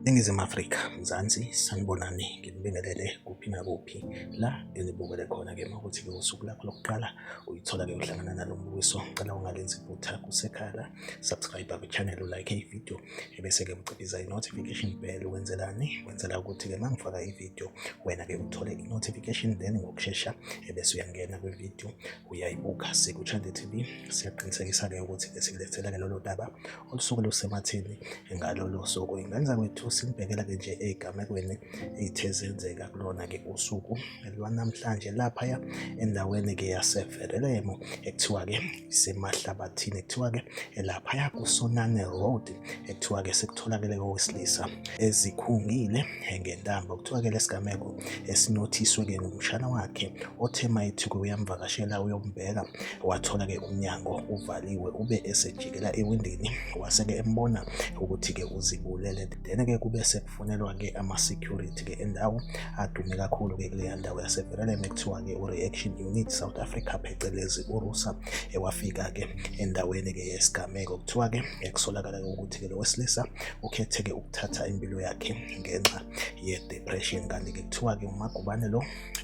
Ningizimu Afrika, Mzansi, sanibonani nginibingelele kuphi nakuphi la enibukele khona-ke makuthi-ke usuku lakho lokuqala uyithola-ke uhlangana nalo mbukiso ngicela ungalenzi iphutha kusekhala subscribe kwichannel ulike ividiyo ebese-ke uciphiza i-notification bell wenzelani wenzela ukuthi-ke uma ngifaka ividiyo wena-ke uthole i-notification then ngokushesha ebese uyangena kwividiyo uyayibuka sikuthande TV siyakuqinisekisa-ke ukuthi-ke sikulethela-ke lolo daba olusuke lusemathini ngalolo suku ingenza kwethu silibhekela-ke nje ey'gamekweni ey'the zenzeka kulona-ke usuku lwanamhlanje laphaya endaweni-ke yaseverelemo ekuthiwa-ke isemahlabathini ekuthiwa-ke laphaya kusonane road ekuthiwa-ke sekutholakele kowesilisa ezikhungile ngentambo kuthiwa-ke lesigameko esinothiswe-ke ngumshana wakhe othe mayethuke uyamvakashela uyombheka wathola-ke umnyango uvaliwe ube esejikela ewindini wase-ke embona ukuthi-ke uzibulele then-ke kube kufonelwa ke ama-security ke endawo adume kakhulu ke kuleya ndawo yasevereleme kuthiwa ke u-reaction unit south africa phecelezi urusa ewafika ke endaweni ke yesigameko kuthiwa ke ekusolakala ke ukuthi ke lo wesilisa ukhethe ke ukuthatha impilo yakhe ngenxa ye-depression kanti ke kuthiwa ke umagubane lo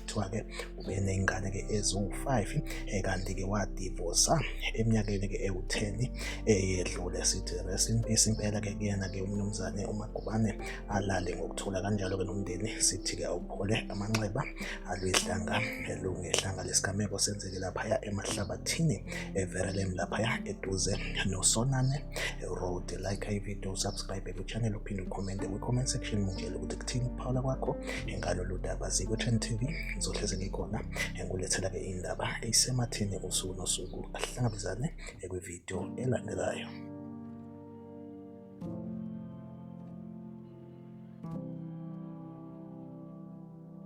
kuthiwa-ke ube ney'ngane-ke eziwu-five eh, kanti-ke wadivosa eminyakeni-ke ewu-ten eyedlule eh, sithi rest in peace impela-ke kuyena-ke umnumzane umagubane alale ngokuthula kanjalo-ke nomndeni sithi-ke awuphole amanxeba alwehlanga lungehlanga lesigameko senzeke laphaya emahlabathini everelem laphaya eduze nosonane road like ivideo subscribe lo channel uphinde ucommente kwi-comment section ngitshele ukuthi kuthini ukuphawula kwakho ngalolu daba zikwe-trend tv ngizohlezi ngikhona ngulethela-ke iy'ndaba eyisemathini usuku nosuku ahlangabezane kwividiyo elandelayo